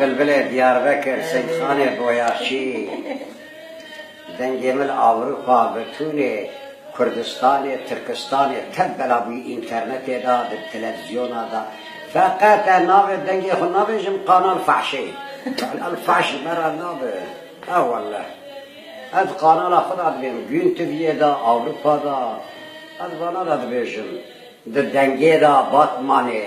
Bilbilê Diyarbekir Seyîdxanê Boyaşî Dengê min Ewropa bi tûnê Kurdistanê Tirkistanê tev bela bûyî înternetê de di televizyona de feqet ez navê dengê xwe nabêjim Kanal Fahşê Kanal Fahş ji me re nabe e welleh ez di kanala xwe de dibêjim Gün TV'yê de Ewropa de ez vana de dibêjim di dengê de Batmanê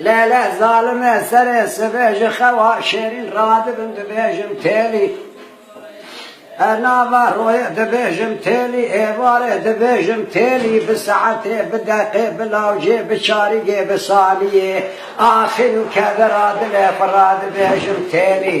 Lele zalime serê sibe ji xewa şêrîn radibin dibêjim têlî. Her nava royê dibêjim têlî, êvarê dibêjim têlî, bi saetê, bi deqê, bi lawcê, bi çarîgê, bi saniyê, axîr û kevera dilê xwe radibêjim têlî.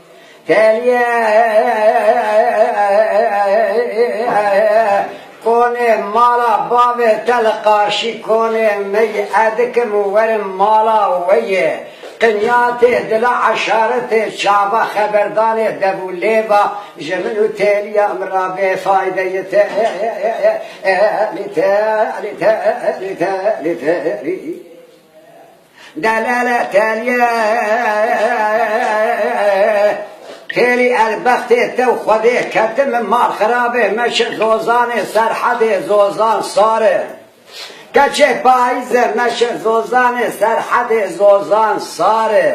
Tevî konê mala bavê te li qarşî konê me yê ez dikim û werim mala we yê. Qinyatê dila eşaretê çava xeberdanê debû lêva ji min û têliya min ra bêfayde yê têlî têlî têlî têlî têlî. Delele teliye Xêlî elbextê tew xwedê keti min mal xirabê me şi Zozanê Serhedê Zozan sar e Keçê payîze me şi Zozanê Serhedê Zozan sar e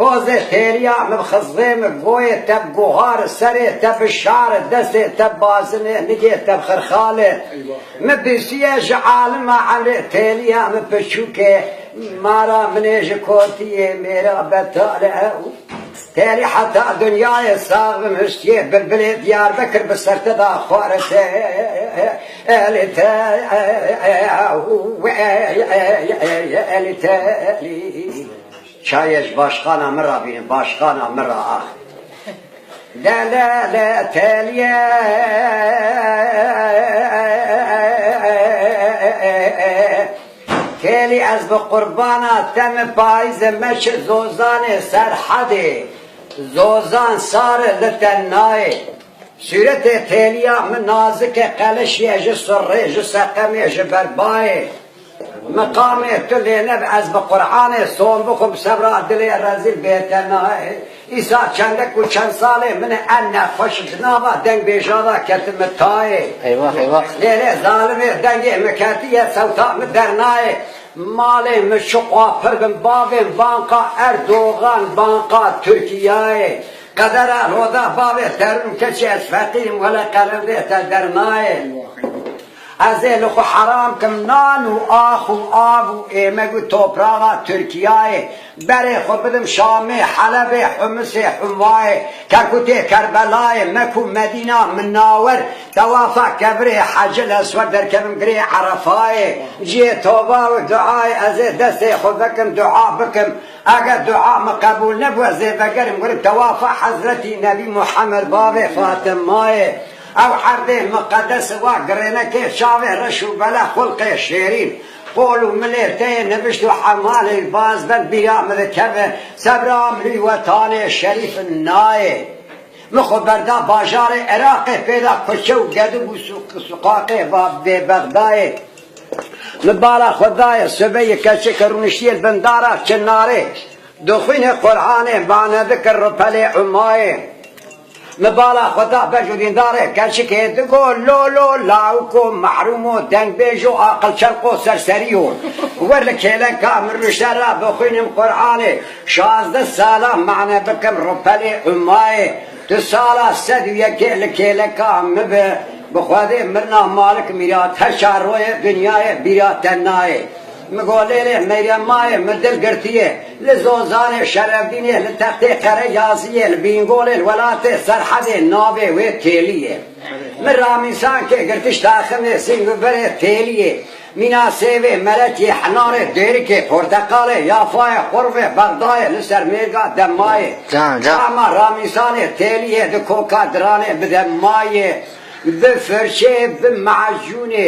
Pozê têriya min xizê min goyê te bi gohar e, serê te bi şar e, destê te bi bazin e, nigê te bi xirxal e. Min bisiye ji alima emrê têliya min piçûk e, mara min ê ji kotiyê mêra betal e ew. Têlî heta dinyayê sax bim hiştiyê bilbilê Diyarbekir bi ser te da xware têlî têlî. Çayê ji başxana min ra bînin, başxana min ra ax. Delele teliye têlî ez bi qurbana te min payîzê me şi Zozanê Serhedê Zozan sari li te nayê sûretê têliya min nazikê qelişîye ji surrê ji seqemê ji ber bayê Miqamê tu lêneb ez bi Quranê son bixwim sebra dilê rezîl bête nayê îsa çendek û çend salê min e em nexweş di nava deng bêjada ketime tayê lêlê zalimê dengê min ketiye sewta min dernayê malê min şiqwa pir bin bavên banqa Erdogan banqa Tirkiyayê qedera roda bavê derûn keçê ez feqîrîm wele qerindê te dernayê. Ez ê li xwe heram kim nan û ax û av û êmek û topraxa Tirkiyayê, berê xwe bidim Şamê, Helebê, Humisê, Humvayê, Kerkûtê, Kerbelayê, Mek û Medîna, Minnawer, Tewafa, Kevirê, Hecil Eswer, derkevim girê Erefayê. Cihê toba û duayê, ez ê destê xwe vekim dua bikim. Eger dua min qebûl nebû, ez ê vegerim werim Tewafa Hezretî Nebî Muhammed bavê Fatimayê. Ew herdê miqedesi wa girêne kê çavê reş û bele xulqê şêrîn, qol û milê teyê nivişt û hemalê baz ben bîra mi dikeve, sebra mirî wetanê şerîf nayê. Mi xwe berda bajarê Iraqê pêda kuçe û gedib û suqaqê va bê Bexdayê. Mi bala xwe dayê sobe yê keçik rûniştiyê bin dara çinarê, dixwînê Qur'anê, manedikir ripelê umayê. Min bala xwe da bej û dîndarê keçikê, digo lolo, lawiko, mehrûmo, dengbêjo, aqilçelqo, serseriyo. Wer li kêleka min rûşte re bixwînim Quranê, şazdeh salan mane bikim rupelê Umayê. Tu sala sed û yekê li kêleka min bi, bi xwedê mirna Malik Mîrat her çar royê dinyayê bîra te nayê. Mi Golêlê, Meryem Mayê, mi Dil Girtiyê, li Zozanê, Şerefdînê, li Textê Qereyaziyê, li Bîngolê, li welatê Serhedê navê wê Têlî ye. Mi Ramîsankê, Girtiş Taximê, Sîngûberê, Têliyê, Mîna Sêvê, Meletiyê, Hinarê, Dêrikê, Porteqalê, Yafayê, Xurvê, Bexdayê, li ser mêrga Demmayê, Çama, Ramîsanê, Têliyê, di koka Diranê, bi demmayê, bi firçeyê, bi me'ecûnê,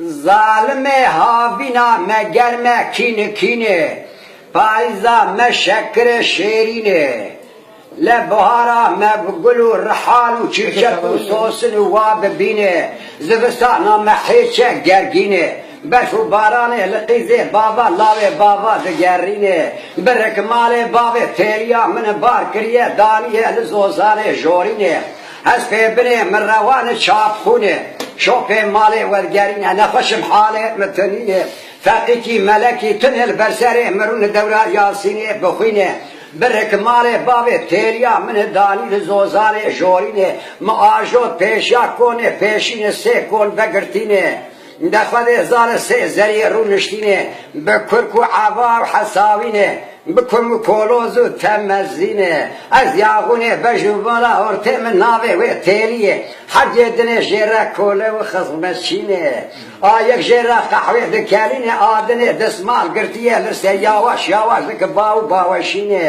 Zalimê havîna me germ e kîn e kîn e Payîza me şekir e şêrîn e Le buhara me bi gul û rihan û çîrçet û sosin û wa bi bîn e Zivistana me hêç e gergîn e Berf û baranê li qîzê bava lawê bava digerîn e Bi rikmalê bavê fêrîya min bar kiriye daniye li zozanê jorîn e Ez fê binê min rewanê çap xûnê Şopê malê wergerîne nexweşim halê min tu nînê Feqîkî melekî tu nê li ber serê min rûnê dewra yasînê bixwînê Birrik malê bavê têrîya min e danî li zozanê jorînê Min ajot pêşiya konê pêşînê sê kon vegirtînê Di xwedê hezar e sê zeriyê rûniştînê bi kurk û eva û hesawînê, bi kum û koloz û temezînê, ez yaxûnê bej û vala hortê min navê wê têliyê, herduyê dinê jê re kole û xizmetçînê. A yek jê re qehwê dikelînê, a dinê dismal girtiyê li ser yawaş yawaş dike ba û baweşînê.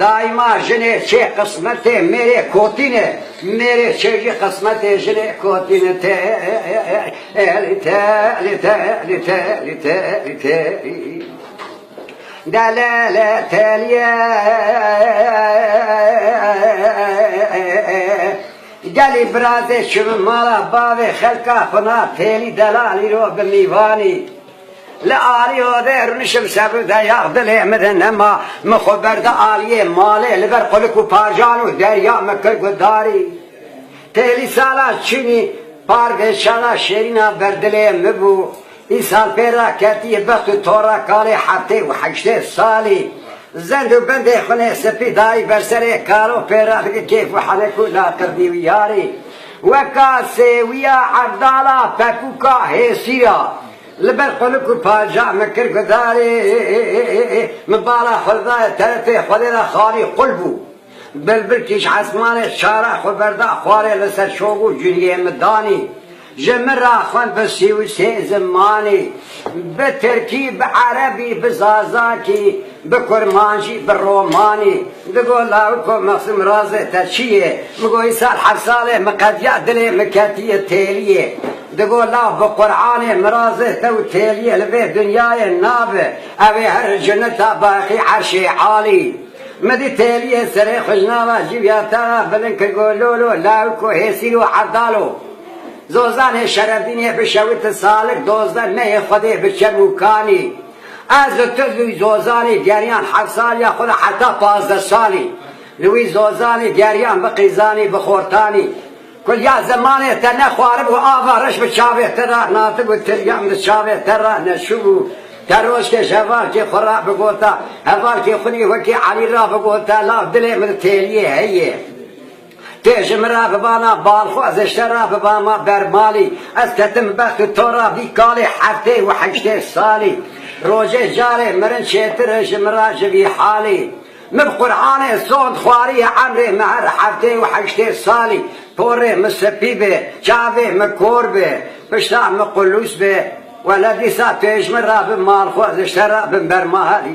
Daîma jinê çê qismetê mêrê kotîn e, mêrê çê jî qismetê jinê kotîn e, Têlî têlî têlî têlî têlî têlî. Delele têlîye gelî birazê çûn mala bavê xelka xwina têlî delalî ro bi mîvanî. Li alî odê rûnişim sebû de yax dilê min de nema. Min xwe berda aliyê malê li ber qulik û parjan û derya min kir guhdarî. Têlî sala çûnî par vêşana şêrîna ber dilê min bû. Îsal pê re ketiyê bext û tora kalê heftê û heştê salî. Zend û bendê xunê spî dayî ber serê karo pê re dike kêf û henek û laqirtî wîyarî. Weka sêwiya hevdala pekûka hêsîr a. Li ber xuluk û panjah min kir gudarê, min bala xwe li dayê terefê xwedê de xalî qul bû. Bilbil kîj esmanê çara xwe berda xwarê li ser şox û cûniyê min danî. Ji min re xwend bi sî û sê zimanî. Bi tirkî, bi erebî, bi zazakî, bi kurmanjî, bi romanî digot Lawik ko Mexsûm razê te çi yê? Min got îsal heft sal e min qediya dilê min ketiye têliyê. Digot law bi Quranê min razê te û têliyê li vê dinyayê nabi ew ê herr cinita baqî erşê alî. Min dît têliyê serê xwe ji nava cî û ya te re bilind kir got lolo Lawik ko hêsîl û erdal o. Zozanê Şerefdînê bi şewite salik dozde neyê Xwedê bi çem û kanî. Ez û tu li wî Zozanê geriyan heft sal ya xwe li heta pazdeh salî. Li wî Zozanê geriyan bi qîzanî, bi xortanî. Ku ya zimanê te nexwaribû ava reş bi çavê te re natibû tiryan bi çavê te re neçûbû. Te roşkê ji hevalkê xwe re bigota. Hevalkê xwinî wekî Elî re bigota la dilê min têliyê heye. Tê ji min re bibana bal xwe ez ê ji te re bibama ber malî Ez ketim bi bext û to re vî kalî Heftê û heştê salî Rojê carê mirin çêtir e ji min re ji vî halî Min bi Qur'anê sond xwariye emrê min her heftê û heştê salî Porê min spî bê çavê min kor bê pişta min qulûs bê Wele dîsa tu ê ji min re bi mal xwe ez ê ji te re bim ber malî.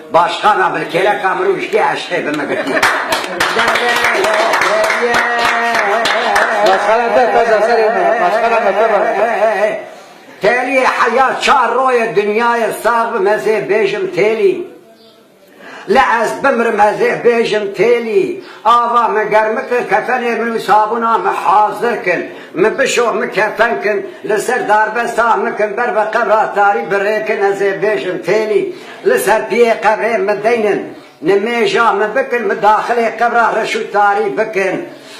Başxana bil kêleka min û hişkê eşqê bi min girtiye. Başxana te taca serê min e, başxana me te rane be. Têlî heya çar roye dinyayê sax bim ez ê bêjim Têlî. Li ez bimrim ez ê bêjim Têlî. Ava min germi kir kefenê min û sabûna min hazir kin. Min bişo min kefen kin li ser darbesta min kin ber bi qebra tarî bi rê kin ez ê bêjim Têlî. Li ser duyê qebrê min deynin. Nimêja min bikin, min daxilê qebra reş û tarî bikin.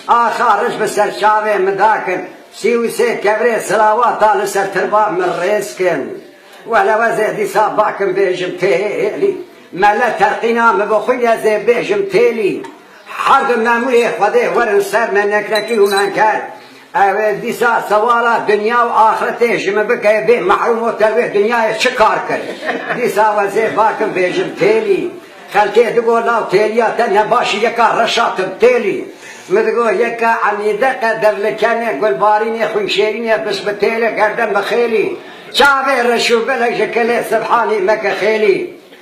Axa reş bi ser çavê min dakin. Sî û sê kevrê silawa da li ser tirba min rêz kin. Welewezê dîsa bakim bêjim Têlî. Mele terqîna min bi xwe ye zê bêjim Têlî. Her du memûrê Xwedê werin ser me nekrekî û menker. Ew ê dîsa sewala dinya û axretê ji min bike bê mehrûm û te wê dinyayê çi kar kir? Dîsa we zê bakim bêjim Têlî. Xelkê digo law têliya te ne baş î yeka reşa tim Têlî. Min digo yeka enîde qeder li kenê gulbarînê xwînşêrînê bis bi Têlê gerdem bi Xêlî. Çavê reş û belek ji kilê Sibhanî meke Xêlî.